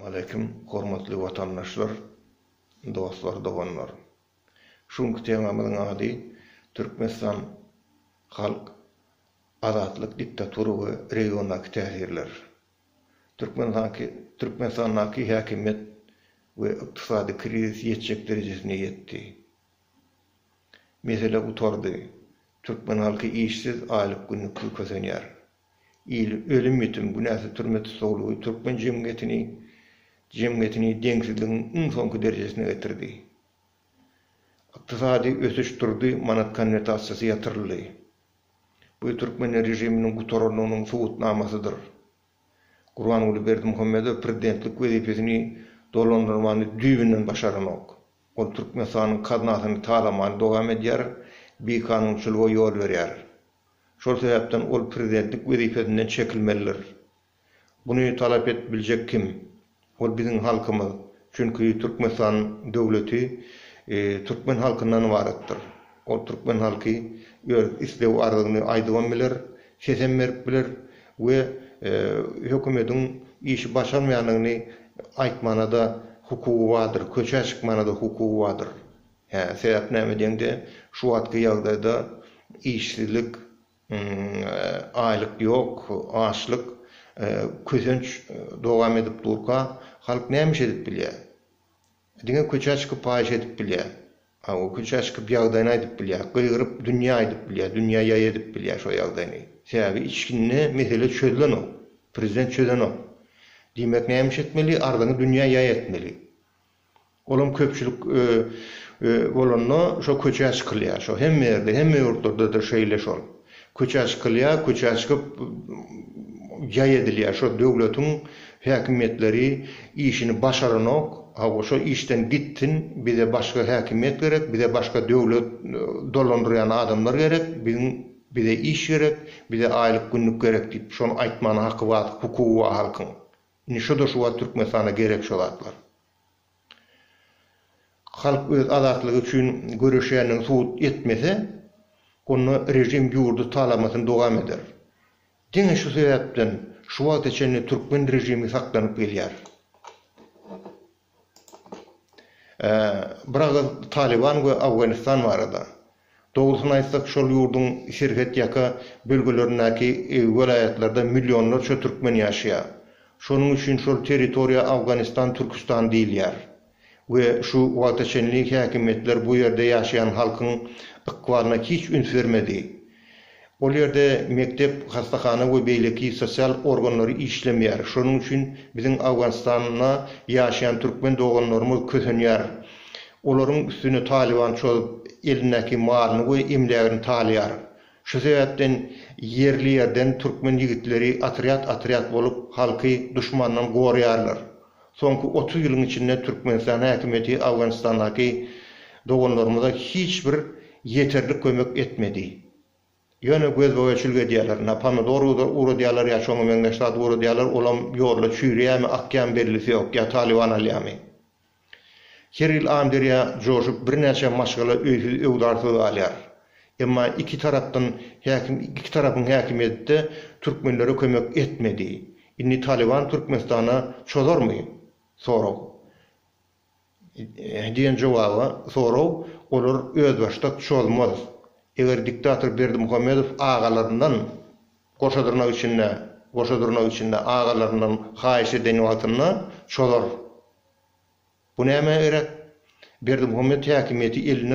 Waleýkim, hormatly watandaşlar, dostlar, doganlar! Şu günki temamyzyň ady Türkmenistan, halk, azatlyk, diktatura we regiondaky täsirler. Türkmenistanky Türkmenistandaky häkimiýet we ykdysady krizis ýetjek derejesine ýetdi. Mesele gutardy. Türkmen halky işsiz, aýlyk-günlüksiz kösenýär. il ölüm-ýitim, günäsiz türme tussaglygy türkmen jemgyýetini, jemgyýetini deňsizligiň iň soňky derejesine getirdi. Ykdysady ösüş durdy, manat konwertasiýasy ýatyryldy. Bu türkmen režiminiň gutarandygynyň subutnamasydyr. Gurbanguly Berdimuhamedow prezidentlik wezipesini dolandyrmany düýbünden başaranok. Ol Türkmenistanyň gaznasyny talamany dowam edýär, bikanunçylyga ýol berýär. Şol sebäpden ol prezidentlik wezipesinden çekilmelidir. Buny talap edip biljek kim? Ol biziň halkymyz. Çünki Türkmenistan döwleti türkmen halkyndan ybaratdyr. Ol türkmen halky öz isleg-arzyny aýdybam biler, sesem berip biler we hökümediň işi başarmaýandygyny aýtmana-da hukugy bardyr, köçä çykmana-da hukugy bardyr. Hä, sebäp näme diýeňde, şu wagtky ýagdaýda işsizlik, aýlyk ýok, açlyk, kösenç dowam edip durka, halk näme iş edip bilýär? Diňe köçä çykyp paýyş edip bilýär. Hawa, köçä çykyp ýagdaýyny aýdyp bilýär, gygyryp dünýä aýdyp bilýär, dünýä ýaý edip bilýär şo ýagdaýyny. Sebäbi içginde mesele çözlenok, prezident çözenok. Diýmek näme iş etmeli, arzyňy dünýä ýaý etmeli. Olam köpçülik bolanda şo köçä çykylýar. Şo hemme ýerde, hemme ýurtlardadyr şeýle şol. Köçä çykylýar, köçä çykyp jaý edilýär. Şo döwletiň häkimiýetleri işini başaranok. Hawa, şo işden gitsin, bize başga häkimiýet gerek, bize başga döwlet dolandyrýan adamlar gerek, biziň bize iş gerek, bize aýlyk-günlük gerek diýip, şony aýtmana haky bar, hukugy bar halkyň. Indi şuda şu wagt Türkmenistana gerek şu zatlar. Halk öz azatlygy üçin göreşýändigini subut etmese, onda režim ýurdy talamasyny dowam eder. Diňe şu sebäpden şu wagta çenli türkmen režimi saklanyp gelýär. Bir agyz Talyban we Awganistan barada. Dogrusyny aýtsak, şol ýurduň serhet ýaka bölgelerindäki welaýatlarda millionlarça türkmen ýaşaýar. Şonuň üçin şol territoriýa Awganistan Türküstan diýilýär we şu wagta çenli häkimiýetler bu ýerde ýaşaýan halkyň ykbalyna hiç üns bermedi. Ol ýerde mekdep, hassahana we beýleki sosial organlary işlemeýär. Şonuň üçin biziň Owganystanda ýaşaýan türkmen doganlarymyz kösenýär. Olaryň üstüne Talyban çozup, elindäki malyny we emlägini talaýar. Şu sebäpden ýerli ýerden türkmen ýigitleri otrýad-otrýad bolup halky duşmandan goraýarlar. Soňky otuz ýylyň içinde Türkmenistan häkimiýeti Owganystandaky doganlarymyza hiç bir ýeterlik kömek etmedi. Ýöne gözboýa çülge edýärler. Na pomidor ugradýarlar ýa şoňa meňzeş zat ugradýarlar, olam ýolda çüýreýämi, akýamy bellisi ýok, ýa Talyban alýamy. Her ýyl Amberýa joşup birnäçe maşgala öýsüz-öwzarsyz galýar. Emma iki tarapdan häkim iki tarapyň häkimiýetde türkmenlere kömek etmedi. Indi Talyban Türkmenistana çozarmy? Sorag. Diýen jogaba sorag olar özbaşdak çozmaz. Eger diktator Berdimuhamedow agalaryndan, goşa dyrnak içinde, goşa dyrnak içinde, agalaryndan haýyş eden wagtynda çozar. Bu nämä gerek? Berdimuhamedow häkimiýeti eline